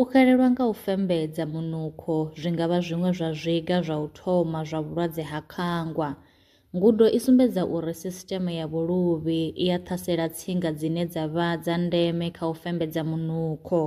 U xelelwa nga u fembedza munukho zwi nga vha zwiṅwe zwa zwiga zwa u thoma zwa vhulwadze ha khangwa. Ngudo i sumbedza uri sisiṱeme ya vhuluvhi i a ṱhasela tsinga dzine dza vha dza ndeme kha u fembedza munukho.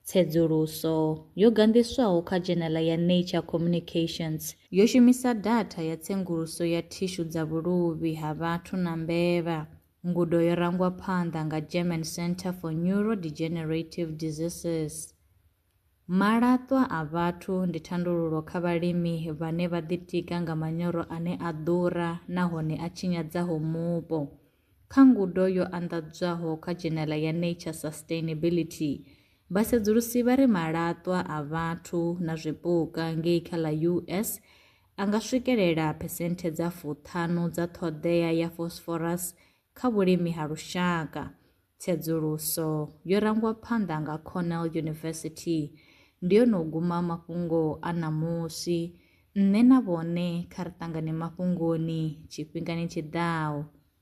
Tsedzuluso yo ganḓiswaho kha dzhenala ya Nature Communications yo shumisa datha ya tsenguluso ya thishu dza vhuluvhi ha vhathu na mbevha. Ngudo yo rangwa phanḓa nga German Center for Neurodegenerative Diseases. Malaṱwa a vhathu ndi thandululo kha vhalimi vhane vha ḓitika nga manyoro ane a ḓura nahone a tshinyadzaho mupo. Kha ngudo yo anḓadzwaho kha dzhenela ya Nature Sustainability, vhasedzulusi vha ri malaṱwa a vhathu na zwipuka ngei kha ḽa US a nga swikelela phesenthe dza fuṱhanu dza ṱhoḓea ya phosphorus kha vhulimi ha lushaka. Tsedzuluso yo rangwa phanḓa nga Cornell University ndi yo no guma mafhungo a ṋamusi. Nṋe na vhone kha ri ṱangane mafhungoni tshifhingani tshi ḓaho.